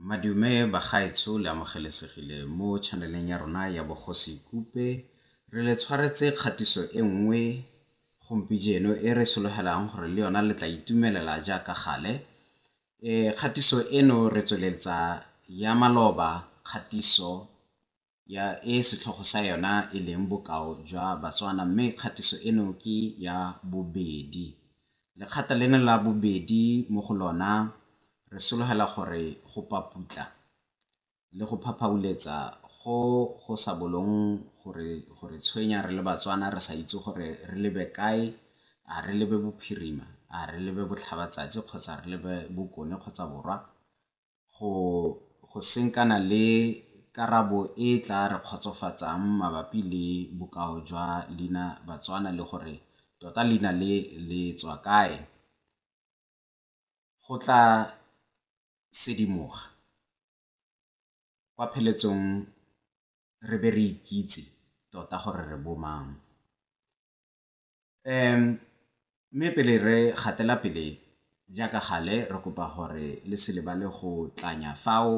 Madume bagaetsho le amogelesegile mo channel-eng ya rona ya Bogosi Kupe. Re le tshwaretse kgatiso e nngwe gompijeno e re sologelang gore le yona le tla itumelela jaaka gale. E kgatiso eno re tsweletsa ya maloba kgatiso ya e setlhogo sa yona e leng bokao jwa Batswana mme kgatiso eno ke ya bobedi. Lekgata leno la bobedi mo go lona re sologela gore go paputla le go phaphauletsa go go sa bolong go re tshwenya re le Batswana re sa itse gore re lebe kae, a re lebe bophirima, a re lebe botlhabatsatsi kgotsa re lebe bokone kgotsa borwa, go go senkana le karabo e e tlaa re kgotsofatsang mabapi le bokao jwa leina Batswana le gore tota leina le le tswa kae, go tlaa sedimoga kwa pheletsong re be re ikitse tota gore re bomang. Mme pele re gatela pele jaaka gale, re kopa gore le se lebale go tlanya fao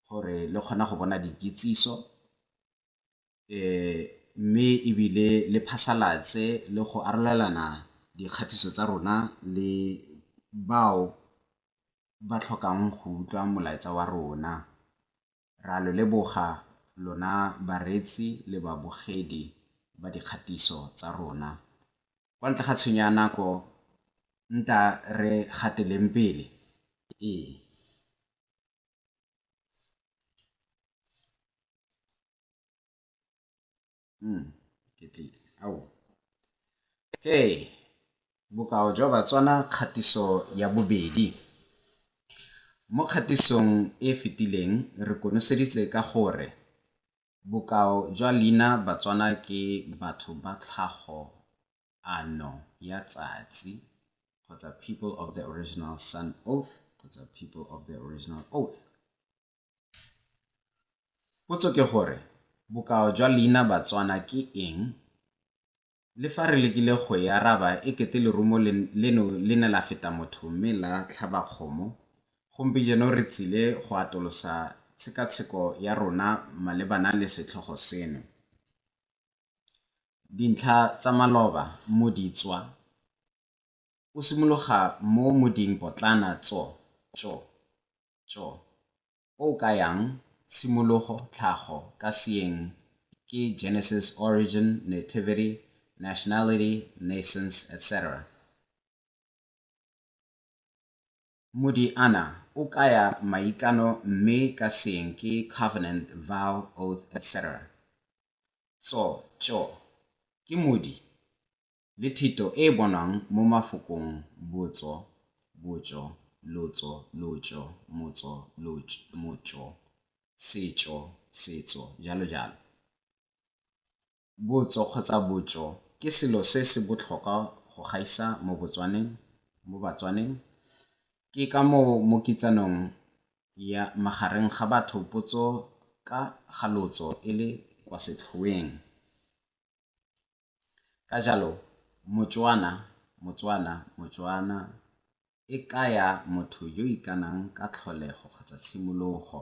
gore le kgone go bona dikitsiso mme ebile le phasalatse le go arolelana dikgatiso tsa rona le bao ba tlhokang go utlwa molaetsa wa rona. Ra lo leboga lona bareetsi le babogedi ba dikgatiso tsa rona. Kwa ntle ga tshenyo ya nako, nta re gateleng pele. Ee. Hmm, ketlile. Ao. Okay. Bokao jwa Batswana kgatiso ya bobedi. Mo kgatisong e fetileng re konoseditse ka gore bokao jwa leina Batswana ke batho ba tlhago ano ya tsatsi kgotsa people of the original sun oath kgotsa people of the original oath. Potso ke gore bokao jwa leina Batswana ke eng? Le fa re lekile go e araba e kete lerumo leno le ne la feta motho mme la tlhaba kgomo, gompijeno re tsile go atolosa tshekatsheko ya rona malebana le setlhogo seno. Dintlha tsa maloba mo di tswa. o simologa mo moding potlana tso, tso, tso, o o kayang tshimologo, tlhago, ka Seeng ke Genesis, origin, nativity, nationality, naissance, etc. Modi ana o kaya maikano mme ka Seeng ke covenant, vow, oath, etc. Tso, tso, ke modi le thito e e bonwang mo mafokong botso, botjo, lotso, lotjo, motso, lotj, motjo, setjo, setso, jalo jalo. Botso kgotsa botjo ke selo se se botlhokwa go gaisa mo Botswaneng, mo Batswaneng. Ke ka moo mo kitsanong ya magareng ga batho potso ka ga lotso e le kwa setlhoeng. Ka jalo, Motswana, Motswana, Motswana, e kaya motho yo ikanang ka tlholego kgotsa tshimologo,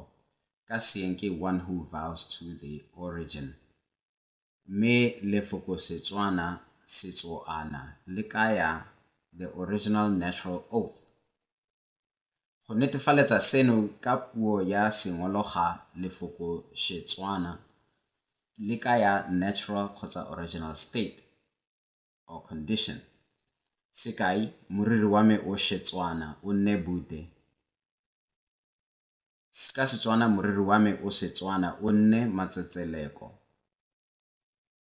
ka Seeng ke one who vows to the origin. Mme lefoko Setswana, Setsoana, le kaya the original natural oath, Go netefaletsa seno ka puo ya Sengolo ga lefoko Setswana le ka ya natural kgotsa original state or condition. Sekai, Moriri wa me o Setswana, o nne Bude. Ka Setswana, Moriri wa me o Setswana, o nne Matsetseleko.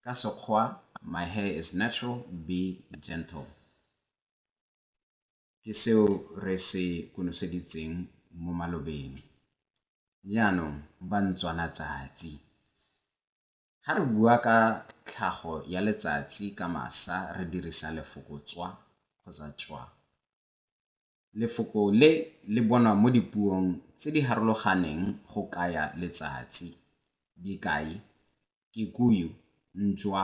Ka Sekgoa, My hair is natural, be gentle. ke seo re se konoseditseng mo malobeng. Jaanong, Bantswanatsatsi, ga re bua ka tlhago ya letsatsi ka masa re dirisa lefoko tswa kgotsa tšwa. Lefoko le le bonwa mo dipuong tse di harologaneng go kaya letsatsi. Dikai, Kikuyu, Ntswa,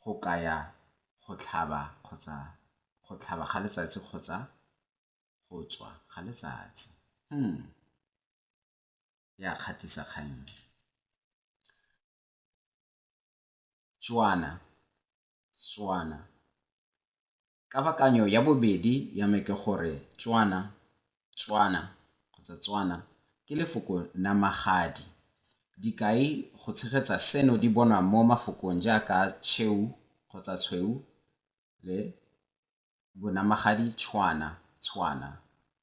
go kaya go tlhaba kgotsa go tlhaba ga letsatsi kgotsa go tswa ga letsatsi. Hmm, ya kgatlhisa kgang e. Tswana, Tswana, Kabakanyo ya bobedi ya me ke gore Tswana, Tswana, kgotsa Tswana, ke lefoko namagadi. Dikai go tshegetsa seno di bonwa mo mafokong jaaka Cheu kgotsa Tshweu le bonamagadi Tshwana, Tshwana,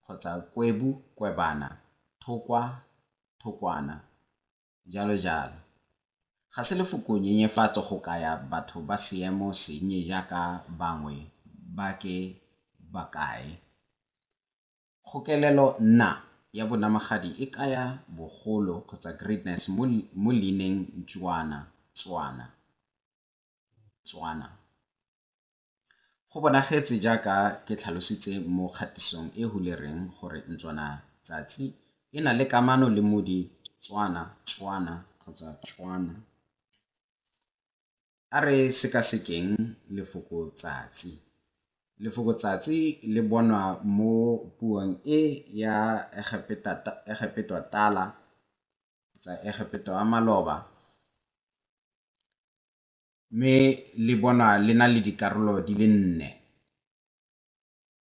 kgotsa Kwebu, Kwebana, Thokwa, Thokwana, jalo jalo. Ga se lefoko nyenyefatso go kaya batho ba seemo sennye jaaka bangwe ba ke ba kae. Kgokelelo nna ya bonamagadi e kaya bogolo kgotsa greatness mo mo leineng Ntswana, Tswana, Tswana. Go bonagetse jaaka ke tlhalositse mo kgatisong e hulereng gore ntswana tsatsi e na le kamano le modi tswana, tswana kgotsa tšwana. A re sekasekeng lefoko tsatsi. Lefoko tsatsi le bonwa mo puong e ya Egepetwa tala kgotsa Egepetwa maloba mme le bonwa le na le dikarolo di le nne.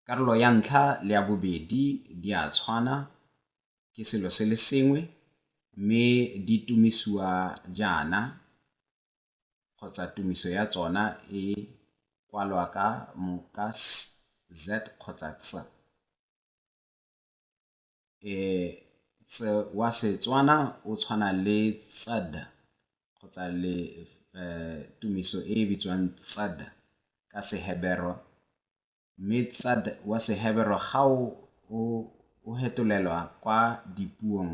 Karolo ya ntlha le ya bobedi di a tshwana, ke selo se le sengwe mme di tumisiwa jaana kgotsa tumiso ya tsona e kwalwa ka moka s, z kgotsa ts. wa Setswana o tshwana le ts'd kgotsa le tumiso e e bitswang ts'd ka Seheberwa. Mme ts'd wa Seheberwa ga o fetolelwa kwa dipuong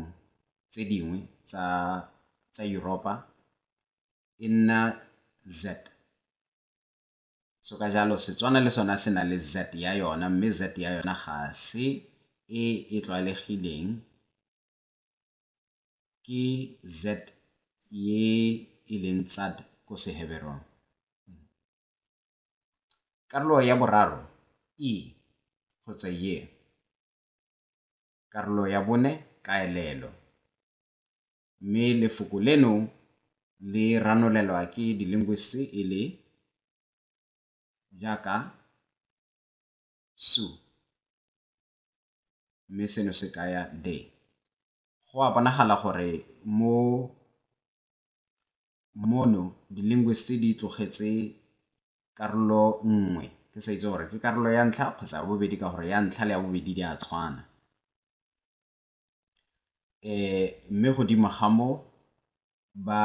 tse dingwe tsa Europe e nna z'd. So ka jalo Setswana le sona se na le Z ya yona mme Z ya yona ga se e e tlwaelegileng ke Z ye e leng tsad ko Seheberong. Karolo ya boraro i kgotsa ye. Karolo ya bone kaelelo. mme lefoko leno le ranolelwa ke di-linguists e le jaaka su mme seno se kaya de. Go a bonagala gore mo mono di-linguists di tlogetse karolo nngwe ke sa itse gore ke karolo ya ntlha kgotsa ya bobedi ka gore ya ntlha le ya bobedi di a tshwana. Mme godimo ga moo, ba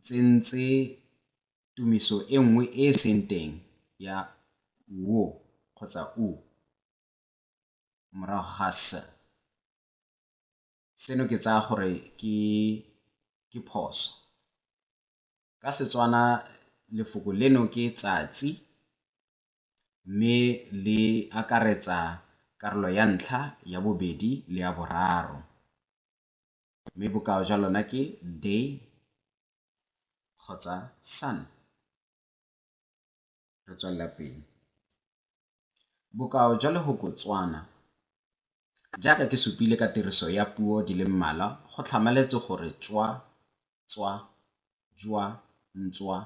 tsentse tumiso e nngwe e e seng teng ya wo kgotsa u morago ga s. Seno ke tsaya gore ke phoso. Ka Setswana lefoko leno ke tsatsi mme le akaretsa karolo ya ntlha, ya bobedi le ya boraro. Mme bokao jwa lona ke day kgotsa sun. re tswelela pele. Bokao jwa lehoko Tswana, jaaka ke supile ka tiriso ya puo di le mmalwa go tlhamaletse gore tswa, tswa, jwa, ntswa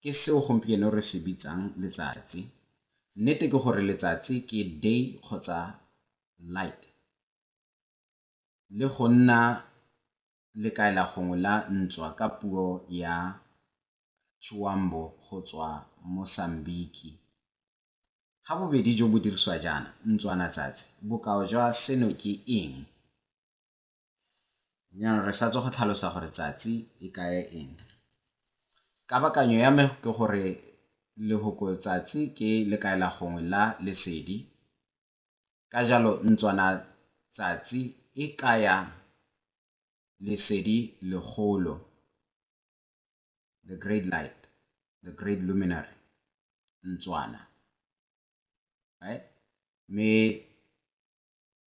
ke seo gompieno re se bitsang letsatsi. Nnete ke gore letsatsi ke day kgotsa light. Le go nna lekaela gongwe la ntswa ka puo ya Tshiwambo go tswa Mosambiki. Ga bobedi jo bo dirisiwa jaana, ntswana tsatsi, bokao jwa seno ke eng? Jaanong re sa tswa go tlhalosa gore tsatsi e kaya eng. Kabakanyo ya me ke gore lehoko tsatsi ke lekaela gongwe la lesedi, Ka jalo ntswana tsatsi e kaya lesedi legolo, the great light, the great luminary, ntswana. Right? Mme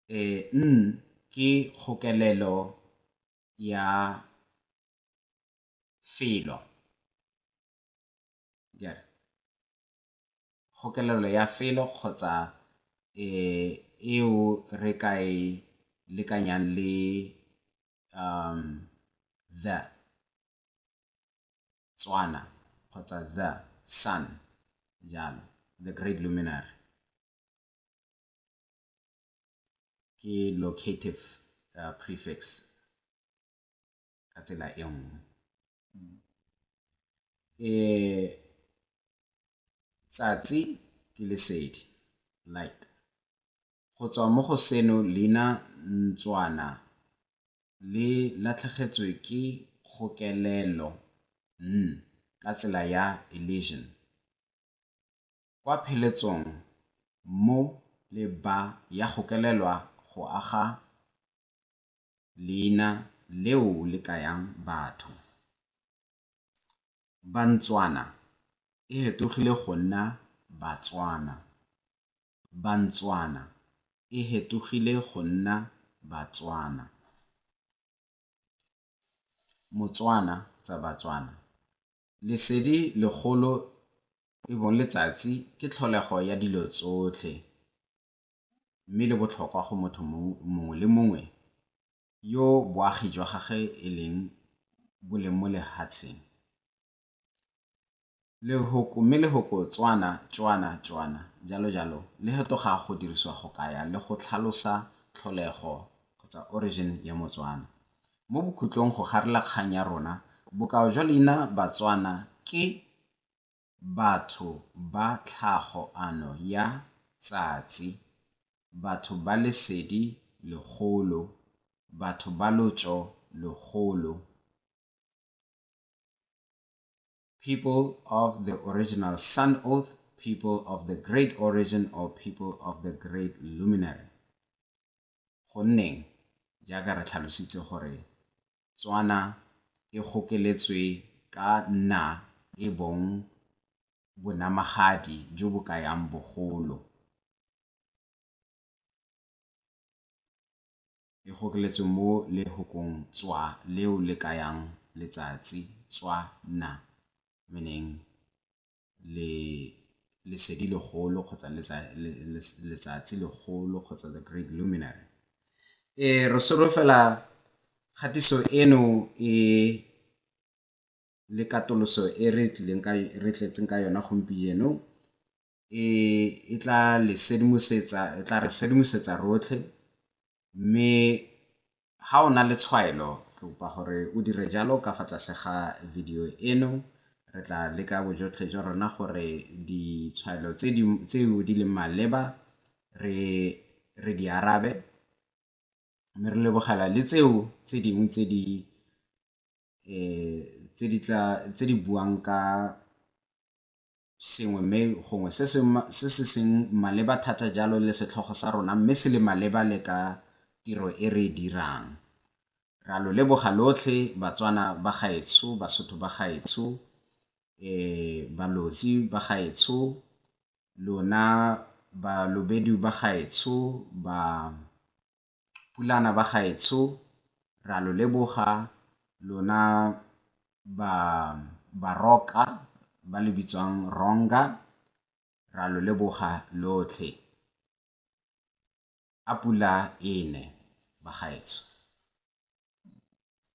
e n ke kgokelelo ya felo. Jare. kgokelelo ya felo kgotsa eo re ka e lekanyang le the, Tswana kgotsa the sun, jalo, the great luminary. Ke locative prefix. ka tsela e nngwe. Tsatsi ke lesedi, light. Go tswa mo go seno leina ntswana le latlhegetswe ke kgokelelo, n, ka tsela ya elision. Kwa pheletsong mo le ba ya gokelelwa go aga leina leo le kayang batho. Bantswana e hetogile go nna Batswana. Bantswana e hetogile go nna Batswana. Motswana tsa Batswana. Lesedi legolo e bong letsatsi ke tlholego ya dilo tsotlhe. mme le botlhokwa go motho mongwe le mongwe yo boagi jwa gagwe e leng bo leng mo lehatsheng. Lehoko, mme lehoko Tswana, Tšwana, Tšwana, jalo jalo, le hetoga go dirisiwa go kaya le go tlhalosa tlholego kgotsa origin ya Motswana. Mo bokhutlong go garela kgang ya rona, bokao jwa leina Batswana ke batho ba tlhago ano ya tsatsi, batho ba lesedi legolo, batho ba lotso logolo, people of the original sun oath, people of the great origin or people of the great luminary. gonneng jaaka re tlhalositse gore Tswana e gokeletswe ka nna e bong bonamagadi jo bo kayang bogolo, e gokeletswe mo lehokong Tswa leo le kayang letsatsi, Tswa na, meaning lesedi legolo kgotsa letsatsi legolo kgotsa the great luminary. Re solofela kgatiso eno e le katoloso e re tlileng ka re tletseng ka yona gompieno e e tla le sedimosetsa e tla re sedimosetsa rotlhe Mme ga o na le tshwaelo, ke kopa gore o dire jalo ka fa tlase ga video eno. Re tla leka bojotlhe jwa rona gore ditshwaelo tseo di leng maleba re di arabe, mme re lebogela le tseo tse dingwe tse di buang ka. sengwe mme gongwe se se se se seng maleba thata jalo le setlhogo sa rona mme se le maleba le ka tiro e re e dirang. Re a lo leboga lotlhe Batswana ba gaetsho, Basotho ba gaetsho, Balozi ba gaetsho, lona Balobedu ba gaetsho, ba. Pulana ba gaetsho ra lo leboga lona ba baroka ba le bitswang ronga ra lo leboga lotlhe a pula ene ba gaetsho.